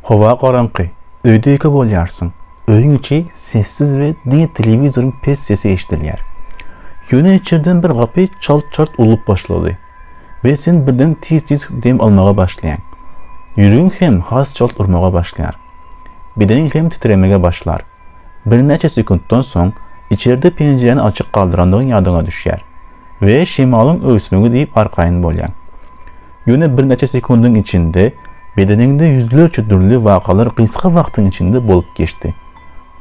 Howa garaňky. Öýde-ýeke bolýarsyň. Öýüň içi sessiz we diňe telewizoryň pes sesi eşidilýär. Ýöne içerden bir gapy çalt-çalt urlup başlady we sen birden tiz-tiz dem almaga başlaýaň. Ýüregiň hem has çalt urmaga başlaýar. Bedeniň hem titremege başlar. Birnäçe sekuntdan soň içerde penjiräni açyk galdyrandygyň ýadyňa düşýär we şemalyň öwüsmegi diýip arkaýyn bolýaň. Ýöne birnäçe sekundyň içinde bedeniňde ýüzlerçe dürli wakalar gysga wagtyň içinde bolup geçdi.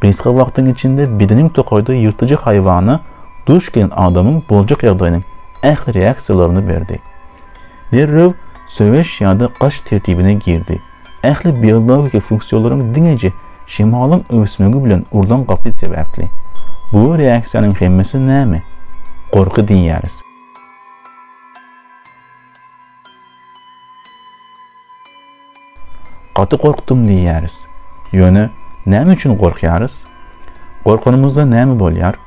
Gysga wagtyň içinde bedeniň tokaýda ýyrtyjy haýwana duş gelen adamyň boljak ýagdaýynyň ähli reaksiýalaryny berdi. Derrew söweş ýa-da gaç tertibine girdi. Ähli biologiki funksiýalaryň diňeje şemalyň öwüsmegi bilen urlan gapyt sebäpli. Bu reaksiýanyň hemmesi näme? Gorky diýýäris. Gaty gorkdum diýýäris. Ýöne näme üçin gorkýarys? Gorkanymyzda näme bolýar?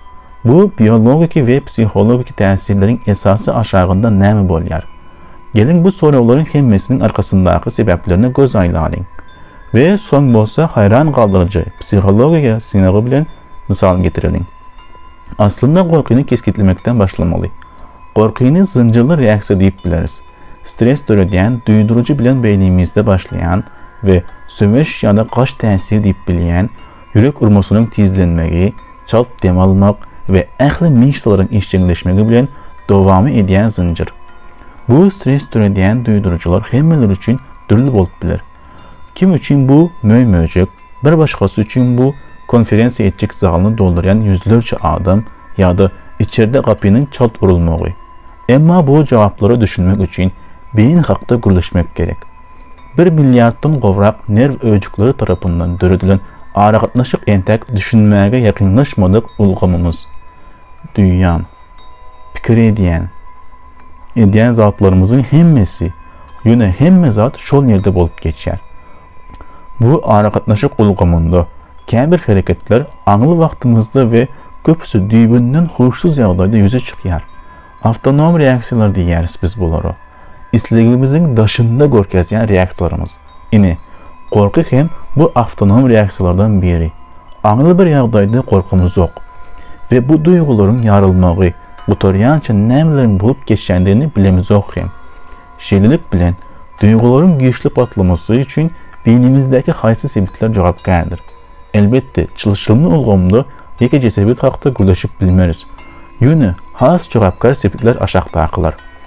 Bu biologiki we psihologiki täsirleriň esasy aşagynda näme bolýar? Geliň bu soraglaryň hemmesiniň arkasyndaky sebäplerine göz aýlalyň. We soň bolsa haýran galdyryjy psihologiýa synagy bilen mysal getireliň. Aslynda gorkyny kesgitlemekden başlamaly. Gorkyny zynjyrly reaksiýa diýip bileris. Stres döredýän duýduryjy bilen beýnimizde başlaýan we söweş ýa-da gaç täsir diýip bilýän ýürek urmasynyň tizlenmegi, çalt dem almak we ähli myşsalaryň işjeňleşmegi bilen dowamy edýän zynjyr. Bu stres döredýän duýduryjylar hemmeler üçin dürli bolup biler. Kim üçin bu möý-möjek, bir başgasy üçin bu konferensiýa etjek zalyny doldurýan ýüzlerçe adam ýa-da içerde gapynyň çalt urulmagy. Emma bu jogaplara düşünmek üçin beýni hakda gürleşmek gerek. Bir milliarddan gowrak nerw öýjükleri tarapyndan döredilen aragatnaşyk entäk düşünmäge ýakynlaşmadyk ulgamymyz. Duýýan. pikir edýän, edýän zatlarymyzyň hemmesi, ýöne hemme zat şol ýerde bolup geçýär. Bu aragatnaşyk ulgamynda käbir hereketler aňly wagtymyzda we köpüsi düýbünden huşsuz ýagdaýda ýüze çykýar. Awtonom reaksiýalar diýýäris biz bulara. islegimiziň daşynda görkezýän reaksiýalarymyz. Ine, gorky hem bu awtonom reaksiýalardan biri. Aňry bir ýagdaýda gorkymyz ýok we bu duýgularyň ýarylmagy gutarýança nämeleriň bolup geçýändigini bilemizok hem. Şeýlelik bilen, duýgularyň güýçli patlamasy üçin beýnimizdäki haýsy sebitler jogapkärdir? Elbetde, çylşyrymly ulgamda ýekeje sebit hakda gürleşip bilmeris. Ýöne has jogapkär sebitler aşakdakylar.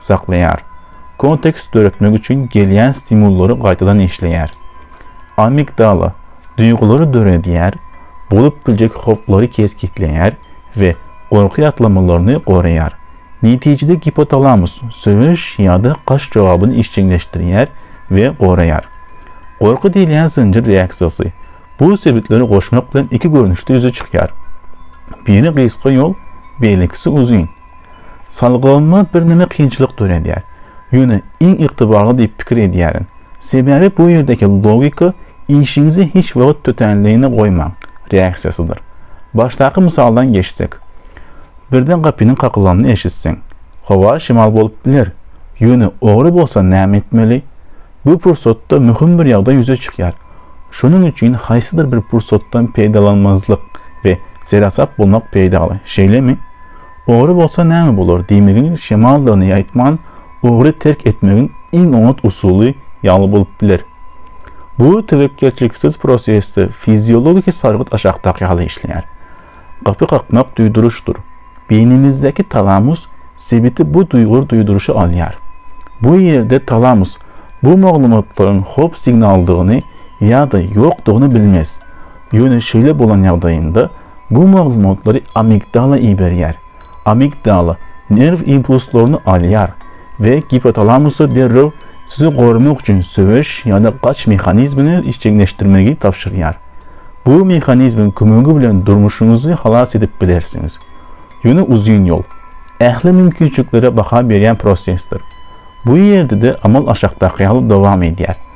saklaýar, kontekst döretmek üçin gelýän stimullary gaýtadan işleýär, amigdala duýgulary döredýär, bolup biljek howplary kesgitleýär we gorky ýatlamalaryny goraýar. Netijede gipotalamus söweş ýa-da gaç jogabyny işjeňleşdirýär we goraýar. Gorky diýilýän zynjyr reaksiýasy bu sebitleri goşmak bilen iki görnüşde ýüze çykýar. Biri gysga ýol, beýlekisi uzyn. Salgylanyma birneme kynçylyk döredýär. Ýöne iň ygtybarly diýip pikir edýärin. Sebäbi bu ýerdeki logika işiňizi hiç wagt tötänligine goýmaň reaksiýasydyr. Başdaky mysaldan geçsek. Birden gapynyň kakylanyny eşitseň. Howa şemal bolup biler. Ýöne ogry bolsa näme etmeli? Bu pursatda möhüm bir ýagdaý ýüze çykýar. Şonuň üçin haýsydyr bir pursatdan peýdalanmazlyk we seresap bolmak peýdaly, şeýlemi? Ogry bolsa näme bolar diýmegiň şemaldygyny aýtman, ogry terk etmegiň iň oňat usuly ýaly bolup biler. Bu töwekgelçiliksiz prosesde fiziologiki sargyt aşakdaky ýaly işleýär. Gapy kakmak duýduryşdyr. Beýnimizdäki talamus sebiti bu duýgur duýduryşy alýar. Bu ýerde talamus bu maglumatlaryň howp signaldygyny ýa-da ýokdugyny bilmez. Ýöne şeýle bolan ýagdaýynda bu maglumatlary amigdala iberýär. Amigdala nerw impulslaryny alýar we gipotalamusa derrew sizi goramak üçin söweş ýa-da gaç mehanizmini işjeňleşdirmegi tabşyrýar. Bu mehanizmiň kömegi bilen durmuşyňyzy halas edip bilersiňiz. Ýöne uzyn ýol, ähli mümkinçiliklere baha berýän prosesdir. Bu ýerde-de amal aşakdaky ýaly dowam edýär.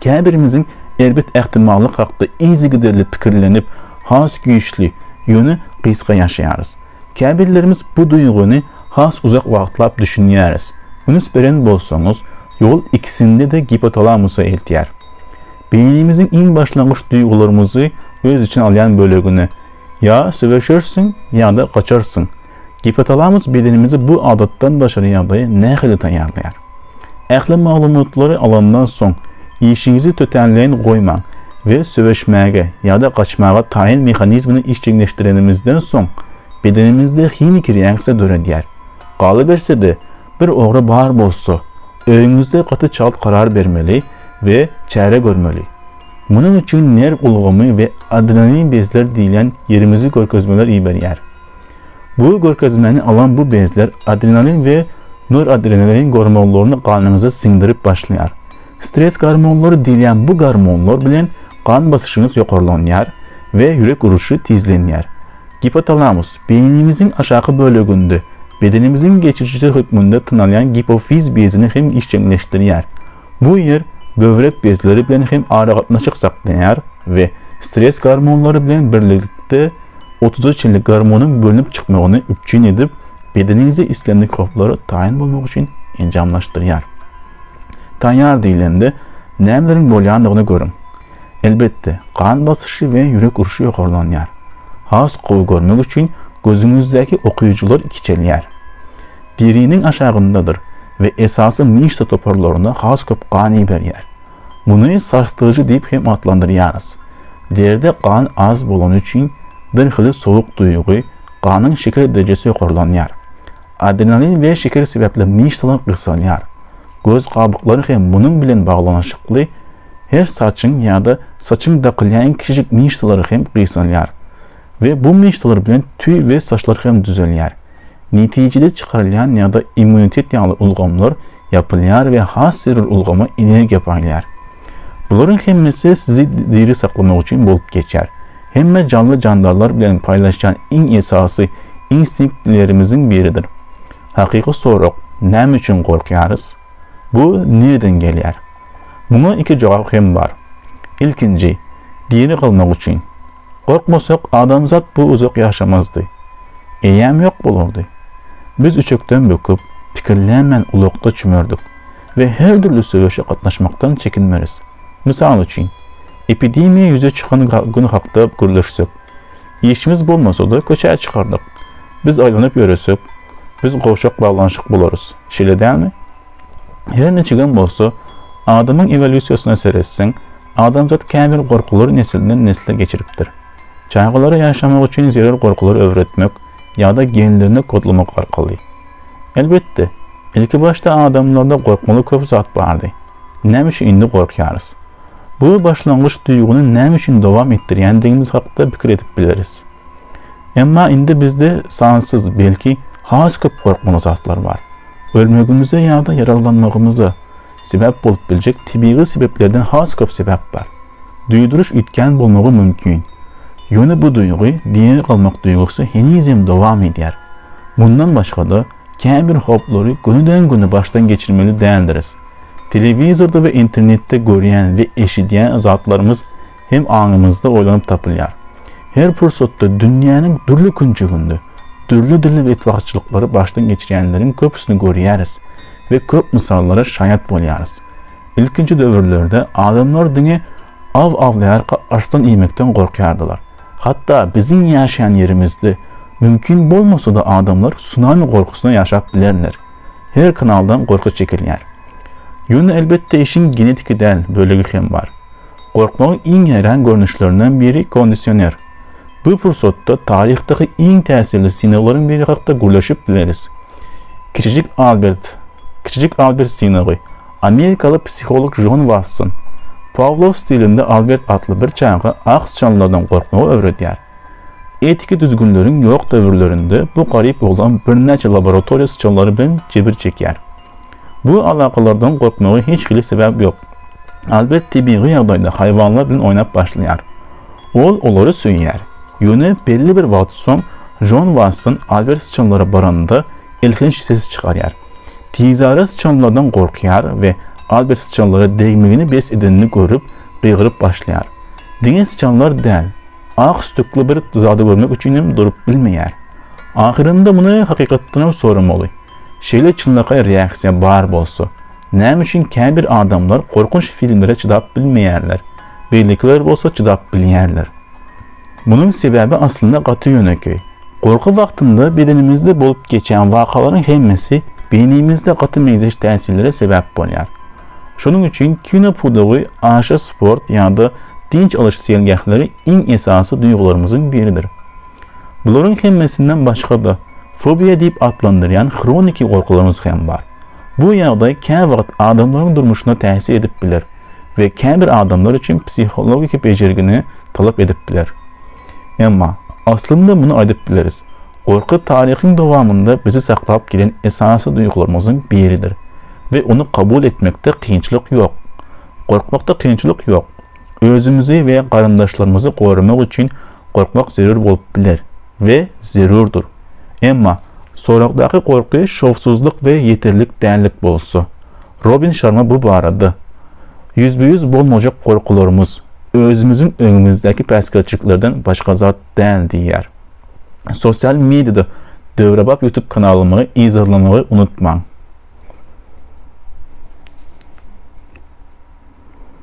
Käbirimiziň erbet ähtimallyk hakda yzygiderli pikirlenip, has güýçli, ýöne gysga ýaşaýarys. Käbirlerimiz bu duýgyny has uzak wagtlap düşünýäris. Üns beren bolsaňyz, ýol ikisinde-de gipotalamusa eltýär. Beýnimiziň iň başlangyç duýgularymyzy öz içine alýan bölegine. Ýa söweşersiň, ýa-da gaçarsyň. Gipotalamus bedenimizi bu adatdan daşary ýagdaýa nähili taýýarlaýar? Ähli maglumatlary alandan soň, işiňizi tötänleýin goýmaň we söweşmäge ýa-da gaçmaga taýyn mehanizmini işjeňleşdirenimizden soň, bedenimizde himiki reaksiýa döredýär. Galyberse-de, bir ogra bar bolsa, öýüňizde gaty çalt karar bermeli we çäre görmeli. Munuň üçin nerw ulgamy we adrenalin bezler diýlen ýerimizi görkezmeler iberýär. Bu görkezmeni alan bu bezler adrenalin we noradrenalin gormonlaryny ganyňyza siňdirip başlaýar. Stres gormonlary diýilýän bu gormonlar bilen gan basyşyňyz ýokarlanýar we ýürek uruşy tizlenýär. Gipotalamus, beýnimiziň aşaky böleginde, bedenimiziň geçirijisi hökmünde tanalýan gipofiz bezini hem işjeňleşdirýär. Bu ýer böwrek bezleri bilen hem aragatnaşyk saklaýar we stress gormonlary bilen birlikde otuza çenli gormonyň bölünip çykmagyny üpjün edip, bedeniňizi islen mikroblara taýyn bolmak üçin enjamlaşdyrýar. Taýýar diýlende, nämeleriň bolýandygyny görüň. Elbetde, gan basyşy we ýürek urşy ýokarlanýar. Has gowy görmek üçin gözüňizdäki okyjylar kiçelýär. Deriniň aşagyndadyr we esasy myşsa toparlaryna has köp gan iberýär. Muny sarsdyryjy diýip hem atlandyrýarys. Derde gan az bolany üçin birhili sowuk duýgy, ganyň şeker derejesi ýokarlanýar. Adrenalin we şeker sebäpli myşsalar gysalýar. Göz gabyklary hem munuň bilen baglanyşykly Her saçyň ýa-da saçyň dakylýaýn kiçijik myşsalary hem gysalýar we bu myşsalar bilen tüý we saçlar hem düzelýär. Netijede çykarylýan ýa-da immunitet ýaly ulgamlar ýapylýar we has zerur ulgama energiýa paýlaýar. Bularyň hemmesi sizi diri saklamak üçin bolup geçýär. Hemme janly-jandarlar bilen paýlaşýan iň esasy instinktlerimiziň biridir. Hakyky sorag, näme üçin gorkýarys? Bu nireden gelýär? Muňa iki jogap hem bar. Ilkinji, diri galmak üçin. Gorkmasak, adamzat bu uzak ýaşamazdy. Eýäm ýok bolardy. Biz üçekden böküp, pikirlänmen ulakda çümerdik we her dürli söweşe gatnaşmakdan çekinmeris. Mysal üçin, epidemiýa ýüze çykan gün hakda gürleşsek, işimiz bolmasa-da köçä çykardyk. Biz aýlanyp ýöresek, biz gowşak baglanyşyk bolarys. Şeýle dälmi? Her niçigem bolsa, adamyň ewolýusiýasyna seretseň, adamzat käbir gorkulary nesilden nesle geçiripdir. Çagalara ýaşamak üçin zerur gorkulary öwretmek ýa-da genlerini kodlamak arkaly. Elbetde, ilkibaşda adamlarda gorkmaly köp zat bardy. Näme üçin indi gorkýarys? Bu başlangyç duýgyny näme üçin dowam etdirýändigimiz hakda pikir edip bileris. Emma indi bizde sansyz, belki, has köp gorkmaly zatlar bar. Ölmegimize ýa-da ýaraglanmagymyza sebäp bolup biljek tebigy sebäplerden has köp sebäp bar. Duýduryş üýtgän bolmagy mümkin. Ýöne bu duýgy, diri galmak duýgusy henizem dowam edýär. Mundan başga-da, käbir howplary gönüden-göni başdan geçirmeli däldiris. Telewizorda we internetde görýän we eşidýän zatlarymyz hem aňymyzda oýlanyp tapylýar. Her pursatda dünýäniň dürli künjeginde dürli-dürli betbagtçylyklary başdan geçirýänleriň köpüsini görýäris we köp mysallara şaýat bolýarys. Ilkinji döwürlerde adamlar diňe aw awlaýarka arslan iýmekden gorkýardylar. Hatda biziň ýaşaýan ýerimizde mümkin bolmasa-da adamlar sunami gorkusyna ýaşap bilerler. Her kanaldan gorky çekilýär. Ýöne elbetde işiň genetiki däl bölegi hem bar. Gorkmagyň iň häýran görnüşlerinden biri kondisioner. Bu pursatda taryhdaky iň täsirli synaglaryň biri hakda gürleşip bileris. Kiçijik Albert, Kiçijik Albert synagy, amerikaly psiholog Jon Wasson, Pawlow stilinde Albert atly bir çaga ak syçanlardan gorkmagy öwredýär. Etiki düzgünleriň ýok döwürlerinde bu garyp oglan birnäçe laboratoriýa syçanlary bilen jebir çekýär. Bu alakalardan gorkmaga hiç hili sebäp ýok. Albert tebigy ýagdaýda haýwanlar bilen oýnap başlaýar. Ol olary söýýär. Ýöne belli bir wagt soň Jon Watson Albert syçanlara baranda elhenç ses çykarýar. Tizara syçanlardan gorkýar we Albert syçanlara degmegini bes edenini görüp, gygyryp başlaýar. Diňe syçanlar däl, ak sütükli bir zady görmek üçinem durup bilmeýär. Ahyrynda muny hakykatdanam soramaly. Şeýle çynlakaý reaksiýa bar bolsa, näme üçin käbir adamlar gorkunç filmlere çydap bilmeýärler, beýlekiler bolsa çydap bilýärler? Munuň sebäbi aslynda gaty ýönekeý. Gorky wagtynda bedenimizde bolup geçýän wakalaryň hemmesi beýnimizde gaty meňzeş täsirlere sebäp bolýar. Şonuň üçin kino pudagy, aşa sport ýa-da dynç alyş seýilgähleri iň esasy duýgularymyzyň biridir. Bularyň hemmesinden başga-da, fobiýa diýip atlandyrýan hroniki gorkularymyz hem bar. Bu ýagdaý käwagt adamlaryň durmuşyna täsir edip biler we käbir adamlar üçin psihologiki bejergini talap edip biler. Emma, aslynda muny aýdyp bileris, gorky taryhyň dowamynda bizi saklap gelen esasy duýgularymyzyň biridir we ony kabul etmekde kynçylyk ýok. Gorkmakda kynçylyk ýok. Özümizi we garyndaşlarymyzy goramak üçin gorkmak zerur bolup biler we zerurdyr. Emma soragdaky gorky şowsuzlyk we ýeterlik dällik bolsa, Robin Şarma bu barada, Ýüzbe-ýüz bolmajak gorkularymyz, özümiziň öňümizdäki päsgelçiliklerden başga zat däl diýýär. Sosial mediada döwrebap YouTube kanalymy yzarlamagy unutmaň!